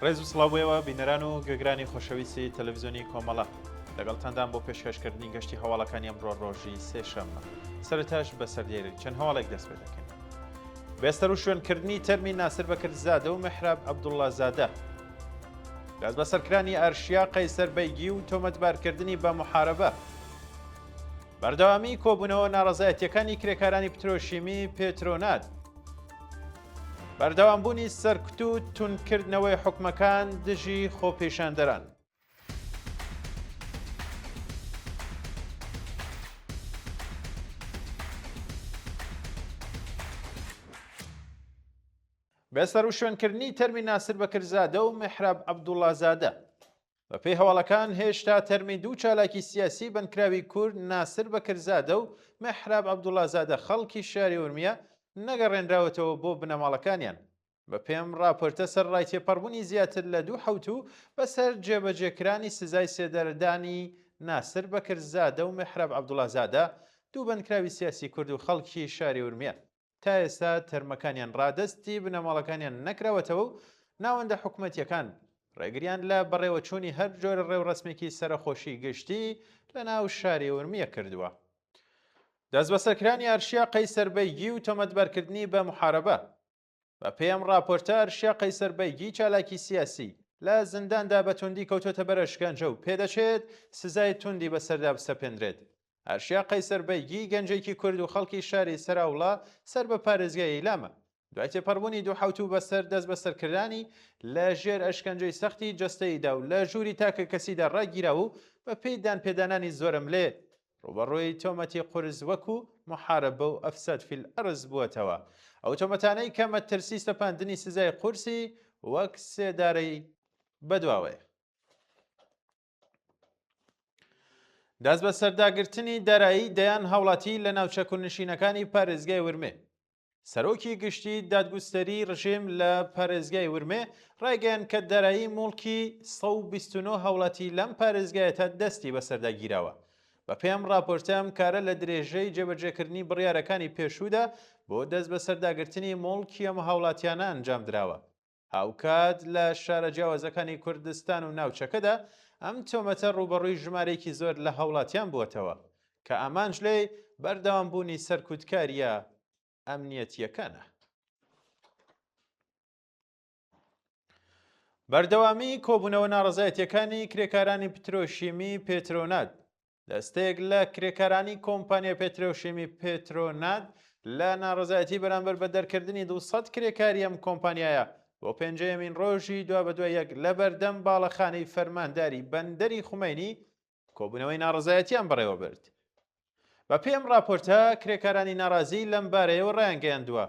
ڕێز و سڵاو بۆ ئێوە بینەران و گوێگرانی خۆشەویستی تەلەڤیزیۆنی کۆمەڵە. لەگەڵتاندان بۆ پێشکەشکردنی گەشتی هەواڵەکانی ئەمڕۆ ڕۆژی سێشەممە. سەرتاش بە سەردێری چەند هەواڵێک دەست پێ دەکەین. بێستەر و شوێن کردنی تەرمی ناسر بەکرزادە و مەحراب عەبدوڵڵا زادە. دەست بەسەر کرانی ئارشیا قەیسەر بەیگی و تۆمەتبار کردنی بە محارەبە. بەردەوامی کۆبوونەوە ناڕەزایەتیەکانی کرێکارانی پترۆشیمی پێترۆنات. بەردەوامبوونی سەرکوت و تونکردنەوەی حوکمەکان دژی خۆپیشاندەران. بە سەروشوێنکردنی تەرمی ناسر بەکرزادە و محراب عەبدوڵازادە بەپێی هەواڵەکان هێشتا تەرمی دوو چالاکی سیاسی بنکراوی کورد ناسر بەکرزادە و محراب عەبدوڵازادە خەڵکی شاری ورمیە نەگەڕێنراوەتەوە بۆ بنەماڵەکانیان بەپێم راپۆرتە سەرڕای تێپەڕبونی زیاتر لە دوو حەوتوو بەسەر جێبەجێکرانی سزای سێدارەدانی ناسر بەکرزادە و مێحراب عەبدوڵازادە، دوو بەندکراوی سیاسی کورد و خەڵکی شاری ورمێ تا ئێستا تەرمەکانیان رادەستی بنەماڵەکانیان نەکراوەتەوە و ناوەندە حکومەتییەکان رێگریان لە بەڕێوەچوونی هەر جۆرە رێوڕەسمێکی سەرەخۆشی گشتی لەناو شاری ورمیە کردووە. دەستبەسەرکرانی ئارشیا قەیسەر بەیگی و تۆمەتبارکردنی بە محارەبە. بە پێی ئەم ڕاپۆرتە ئەرشیا قەیسەر بەیگی چالاکی سیاسی لە زینداندا بە توندی کەوتۆتە بەر ئەشکەنجە و پێدەچێت سزای توندی بەسەردا بسەپێندرێت. ئەرشیا قەیسەر بەیگی گەنجێکی کورد و خەڵکی شاری سەراوڵا سەر بە پارێزگای ئیلامە. دوای تێپەڕبوونی دوو حەوتوو بەسەر دەستبەسەرکردانی لە ژێر ئەشکەنجەی سەختی جەستەییدا و لە ژووری تاکەکەسیدا ڕاگیراوە و بەپێی دانپێدانانی زۆرەملێ ڕووبەڕووی تۆمەتی قورس وەکو، محاربە و افساد فی الارض، بووەتەوە، ئەو تۆمەتانەی کە مەترسی سەپاندنی سزای قورسی وەک سێدارەی بەدواوەیە. دەستبەسەرداگرتنی دارایی دەیان هاوڵاتی لە ناوچە کوردنشینەکانی پارێزگای ورمێ. سەرۆکی گشتی دادگوستەری رژێم لە پارێزگای ورمێ ڕایگەیان کە دارایی موڵکی 129 هاوڵاتی لەم پارێزگایە تا دەستی بەسەردا گیراوە. بەپێم ڕاپۆرتە ئەم کارە لە درێژەی جێبەجێکردنی بڕیارەکانی پێشوودا بۆ دەستبەسەرداگرتنی موڵکی ئەم هاوڵاتیانە ئەنجامدراوە. هاوکات لە شارە جیاوازەکانی کوردستان و ناوچەکەدا ئەم تۆمەتە ڕووبەڕووی ژمارەیەکی زۆر لە هاوڵاتیان بووەتەوە، کە ئامانج لێی بەردەوامبوونی سەرکوتکارییە ئەمنییەتییەکانە. بەردەوامیی کۆبوونەوە ناڕەزایەتییەکانی کرێکارانی پترۆشیمیی پێترۆنات دەستەیەک لە کرێکارانی کۆمپانیا پێترۆشێمی پێترۆنات لە ناڕزایەتی بەرامبەر بە دەرکردنی 200 کرێکاری ئەم کۆمپانیایە بۆ پێنجەیەمین ڕۆژی دوا بەدوای یەک لە بەردەم باڵەخانەی فەرمانداری بەندەری خومەینی کۆبوونەوەی ناڕزایەتیان بەڕێوە برد. بە پێی ئەم ڕاپۆرتە، کرێکارانی ناڕازی لەم بارەیەوە ڕایانگەیاندووە،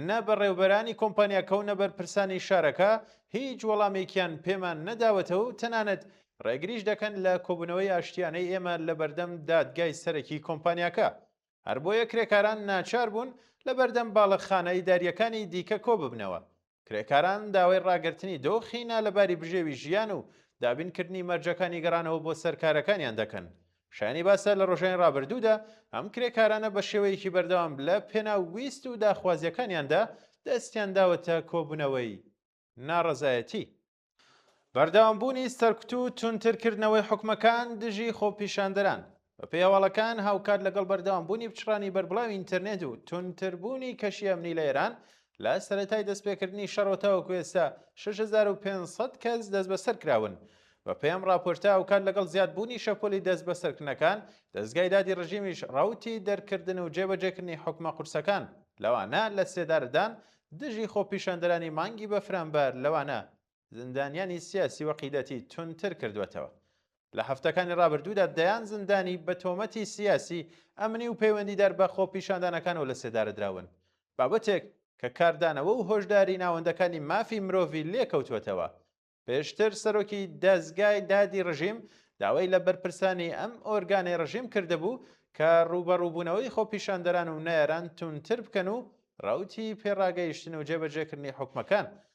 نە بەڕێوبەرانی کۆمپانیاکە و نە بەرپرسانی شارەکە هیچ وەڵامێکیان پێمان نەداوەتەوە و تەنانەت ڕێگریش دەکەن لە کۆبوونەوەی ئاشتیانەی ئێمە لە بەردەم دادگای سەرەکی کۆمپانیاکە، هەربۆیە کرێکاران ناچار بوون لە بەردەم باڵەخانە ئیدارییەکانی دیکە کۆببنەوە، کرێکاران داوای ڕاگرتنی دۆخی نالەباری بژێوی ژیان و دابینکردنی مەرجەکانی گەڕانەوە بۆ سەر کارەکانیان دەکەن. شایانی باسە لە ڕۆژانی ڕابردوودا ئەم کرێکارانە بە شێوەیەکی بەردەوام لە پێناو ویست و داخوازیەکانیاندا دەستیان داوەتە کۆبوونەوەی ناڕەزایەتی. بەردەوام بوونی سەرکوت و تونتر کردنەوەی حکومەکان دژی خۆپیشاندەران، بە پێی هەواڵەکان هاوکات لەگەڵ بەردەوام بوونی پچڕانی بەربڵاوی ئینتەرنێت و تونتر بوونی کەشی ئەمنی لە ئێران لە سەرەتای دەستپێکردنی شەڕەوە تاوەکو ئێستا شەش هەزار و پێنج سەد کەس دەستبەسەر کراون. بەپێم ڕاپۆرتە ئەوکات لەگەڵ زیادبوونی شەپۆلی دەستبەسەرکردنەکان، دەزگای دادی ڕژیمیش ڕەوتی دەرکردن و جێبەجێکردنی حوکمە قورسەکان، لەوانە لەسێدارەدان دژی خۆپیشاندەرانی مانگی بەفرانبار، لەوانە زیندانیانی سیاسی وەقیدەتی توندتر کردووەتەوە. لە هەفتەکانی ڕابردوودا دەیان زیندانی بە تۆمەتی سیاسی، ئەمنی و پەیوەندیدار بە خۆپیشاندانەکانەوە لەسێدارەدراون، بابەتێک کە کاردانەوە و هۆشداری ناوەندەکانی مافی مرۆڤی لێکەوتووەتەوە. پێشتر سەرۆکی دەزگای دادی ڕژیم داوای لە بەرپرسانی ئەم ئۆرگانەی ڕژیم کردبوو کە ڕووبەڕووبوونەوەی خۆپیشاندەران و نەیاران توندتر بکەن و ڕەوتی پێڕاگەیشتن و جێبەجێکردنی حوکمەکان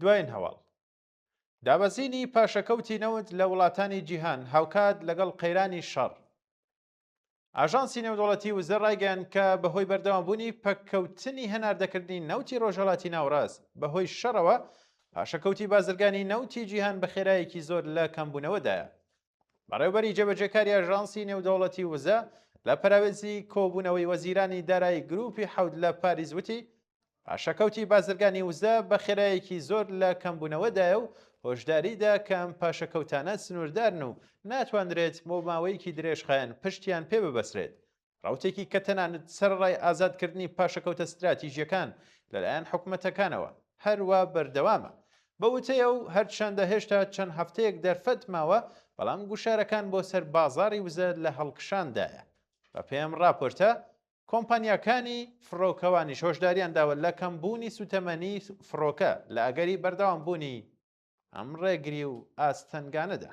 دوایین هەواڵ دابەزینی پاشەکەوتی نەوت لە وڵاتانی جیهان هاوکات لەگەڵ قەیرانی شەڕ ئاژانسی نێودوڵەتی وزە ڕایگەیان کە بەهۆی بەردەوامبوونی پەککەوتنی هەناردەکردنی نەوتی ڕۆژهڵاتی ناوڕاست بەهۆی شەڕەوە پاشەکەوتی بازرگانی نەوتی جیهان بە خێرایەکی زۆر لە کەمبوونەوەدایە بەڕێوبەری جێبەجێکاری ئەژانسی نێودەوڵەتی وزە لە پەراوێزی کۆبوونەوەی وەزیرانی دارایی گروپی حەوت لە پاریس وتی پاشەکەوتی بازرگانی وزە بە خێرایەکی زۆر لە کەمبوونەوەدایە و هۆشداریدا کەم پاشەکەوتانە سنووردارن و ناتواندرێت بۆ ماوەیەکی درێژخایەن پشتیان پێ ببەسرێت ڕەوتێکی کە تەنانەت سەرەڕای ئازادکردنی پاشەکەوتە ستراتیژییەکان لەلایەن حکومەتەکانەوە، هەروا بەردەوامە. بە وتەی ئەو، هەرچەندە هێشتا چەند هەفتەیەک دەرفەت ماوە، بەڵام گوشارەکان بۆ سەر بازاڕی وزە لە هەڵکشاندایە. بەپێی ئەم ڕاپۆرتە، کۆمپانیاکانی فڕۆکەوانیش هۆشدارییان داوە لە کەمبوونی سووتەمەنیی فڕۆکە لە ئەگەری بەردەوامبوونی ئەم ڕێگری و ئاستەنگانەدا.